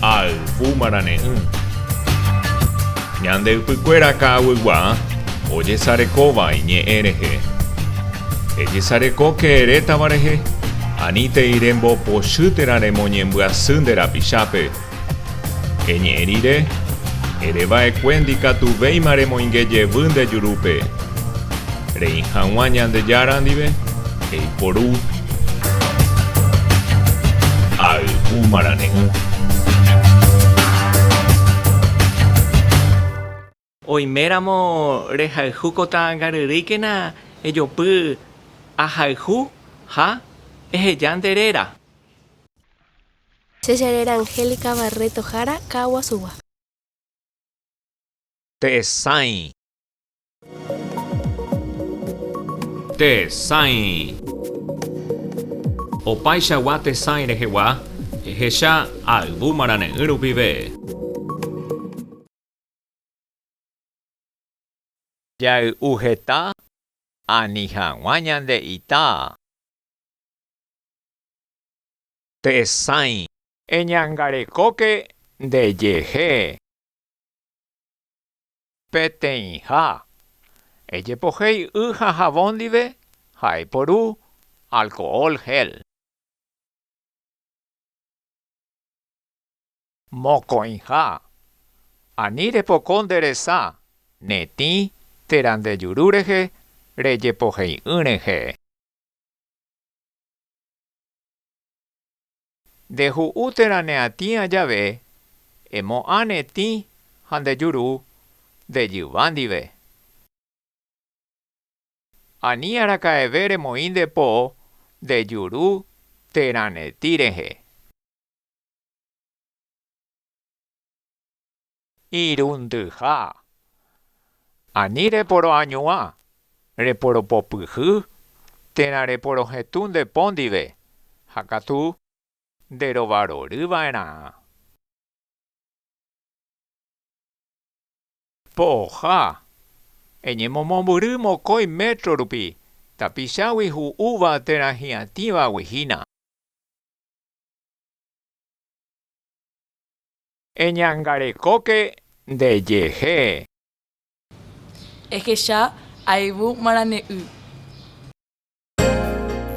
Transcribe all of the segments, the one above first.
Ayvu marane'ỹ. Ñande ypykuéra ka'aguygua ojesarekóva iñe'ẽ rehe. Ejesarekóke erétava rehe, anítei rembopochy térã remoñembyasy nde rapichápe. Eñe'ẽ rire, ere va'ekue ndikatuvéima remoinge jevy nde jurúpe. Reĩ haguã Ñandejára ndive, eiporu. Ayvu marane'ỹ. Oiméramo rehayhu ko ta'ãngaryrýikena ejopy ahayhu ha eheja nde réra. Che che réra Angélica Barreto Jara ka'aguasugua. Tehesãi. Tehesãi. Opaichagua tesãi rehegua ehecha ayvu marane'ỹ rupive. Jay'u heta ani hag̃ua ñande ita. Tesãi. Eñangarekóke nde jehe. Peteĩha. Ejepohéi y ha havõ ndive ha eporu alcohol gel. Mokõiha, ani repoko nde resa, netĩ térã nde juru rehe rejepohei'ỹ rehe. Nde hu'u térã ne atĩa jave, emo'ã netĩ ha nde juru nde jyva ndive. Ani araka'eve remoĩ nde po nde juru térã netĩ rehe. Irundyha. Ani reporoañuã, reporopopyhy térã reporohetũ nde po ndive ha katu nderovarory va'erã. Poha. Eñemomombyry mokõi métro rupi tapichágui hu'úva térã hi'atĩvagui hína. Eñangarekóke nde jehe. Ehecha ayvu marane'ỹ.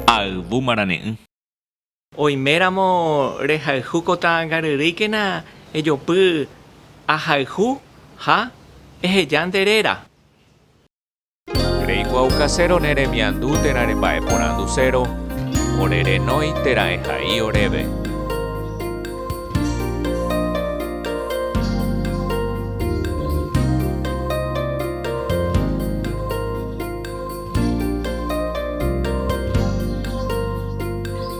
Ayvu marane'ỹ. Oiméramo rehayhu ko ta'ãngaryrýikena ejopy ahayhu ha eheja nde réra. Reikuaukasérõ ne remiandu térã remba'eporandusérõ, ore renói térã ehai oréve.